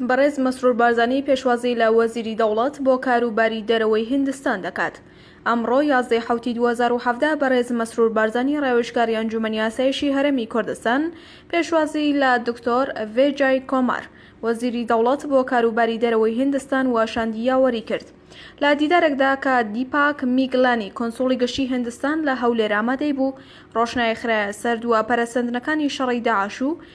بەڕێز مەسرور بارزانی پێشوازی لە وەزیری دەوڵەت بۆ کار و باری دەرەوەی هیندستان دەکات. ئەمڕۆ یازدە ی حەوتی دوو هەزار و حەڤدە بەڕێز مەسرور بارزانی ڕاوێژکاری ئەنجومەنی ئاسایشی هەرێمی کوردستان پێشوازی لە دکتۆر ڤێجای کۆمار وەزیری دەوڵەت بۆ کار و باری دەرەوەی هیندستان و شاندی یاوەری کرد. لە دیدارێکدا کە دیپاک میگلانی کونسوڵی گشتی هیندستان لە هەولێر ئامادەی بوو ڕۆشنای خرایە سەر دوا پەرەسەندنەکانی شەڕی داعش و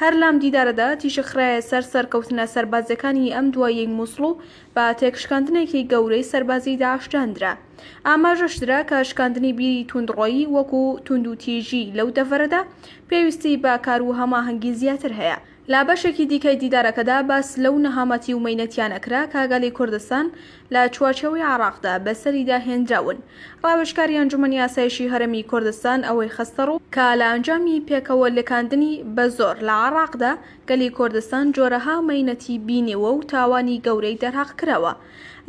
هەر لەم دیدارەدا تیشک خرایە سەر سەرکەوتنە سەربازییەکانی ئەم دواییەی موسڵ و بە تێکشکاندنێکی گەورەی سەربازیی داعش داندرا. ئاماژەش درا کە شکاندنی بیری توندڕۆیی وەکو توندوتیژی لەو دەڤەرەدا پێویستی بە کار و هەماهەنگی زیاتر هەیە. لە بەشێکی دیکەی دیدارەکەدا باس لەو نەهامەتی و مەینەتییانە کرا کە گەلی کوردستان لە چوارچێوەی عێڕاقدا بەسەریدا هێنراون. ڕاوێژکاری ئەنجومەنی ئاسایشی هەرێمی کوردستان ئەوەی خستەڕوو کە لە ئەنجامی پێکەوە لکاندنی بە زۆر لە عێڕاقدا گەلی کوردستان جۆرەها مەینەتی بینیوە و تاوانی گەورەی دەرهەق کراوە.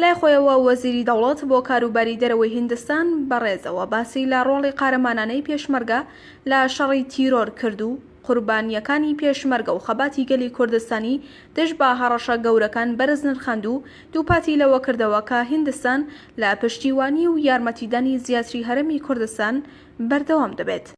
لای خۆیەوە وەزیری دەوڵەت بۆ کاروباری دەرەوەی هیندستان بە ڕێزەوە باسی لە ڕۆڵی قارەمانانەی پێشمەرگە لە شەڕی تیرۆر کرد و قوربانییەکانی پێشمەرگە و خەباتی گەلی کوردستانی دژ بە هەڕەشە گەورەکان بەرز نرخاند و دووپاتی لەوە کردەوە کە هیندستان لە پشتیوانی و یارمەتیدانی زیاتری هەرێمی کوردستان بەردەوام دەبێت.